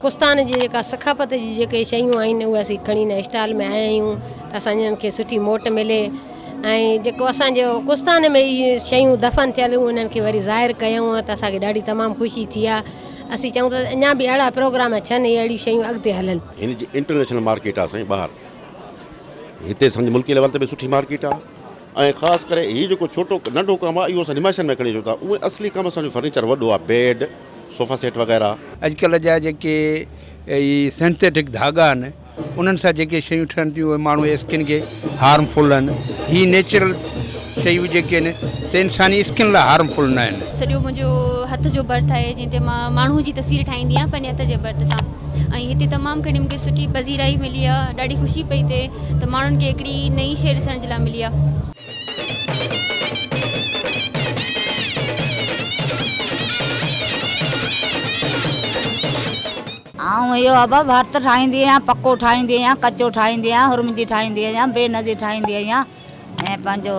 ڪستان جي جيڪا ثقافت جي جيڪي شيون آهن اهي اسين کڻي هن اسٽال ۾ آيا آهيون ته اسان جن کي سٺي موٽ ملي ۽ جيڪو اسانجو ڪستان ۾ هي شيون دفن ٿيل هيون انهن کي وري ظاهر ڪيون ته اسانکي ڏاڍي تمام خوشي ٿي آهي اسين چاهيون ٿا اڃا به اهڙا پروگرام ٿين هي اهڙيون شيون اڳتي هلن هن جي انٽرنيشنل مارڪيٽ آهي سائين ٻاهر هتي سمجهه ملڪي ليول تي به سٺي مارڪيٽ آهي ۽ خاص ڪري هي جيڪو ڇوٽو ننڍو ڪم آهي اهو اسان نمائشن ۾ کڻي اچون ٿا اونئن اصلي ڪم اسان جو فرنيچر وڏو آهي بيڊ صوفا سيٽ وغيره. اڄڪلهه جا جيڪي هي سينٿيٽڪ ڌاڳا آهن انهن سان جيڪي شيون ٺهن ٿيون اهي ماڻهو جي اسڪن کي هارم فل آهن هي نيچرل شيون جيڪي آهن سي انساني اسڪن لاء هارم فل نه آهن. سڄو منهنجو هٿ جو برٿ آهي جنهن تي مان ماڻهو جي تصوير ٺاهيندي آهيان پنهنجي هٿ جي برٿ سان. ۽ هتي تمام گهڻي مونکي سٺي پذيرائي ملي آ ڏاڍي خوشي پئي ٿئي ته ماڻهن کي هڪڙي نئين شئي ڏسڻ جي لاء ملي آ. آئون اهو اڀ ڀرت ٺاهيندي آهيان پڪو ٺاهيندي آهيان ڪچو ٺاهيندي آهيان هرمجي ٺاهيندي آهيان بي نظير ٺاهيندي آهيان ۽ پنهنجو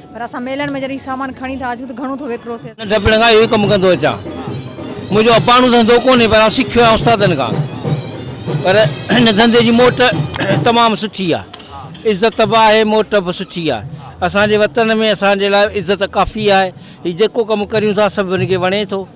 پر اسان ميلن ۾ جڏهن هي سامان کڻي ٿا اچون ته گهڻو ٿو وڪرو ٿئي. ننڍپڻ کان اهو ئي ڪم ڪندو اچان. منهنجو اباڻو ڌنڌو ڪونهي پر آئون سکيو آهيان استادن کان. پر هن ڌنڌي جي موٽ تمام سٺي آهي. عزت به آهي موٽ به سٺي آهي. اسان جي وطن ۾ اسان جي لاء عزت ڪافي آهي. هي جيڪو ڪم ڪريون ٿا سڀني کي وڻي ٿو.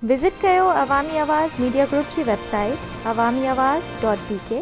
وزٽ ڪيو عوامي آواز ميڊيا گروپ جي website Awami Awaz dot بي ڪي.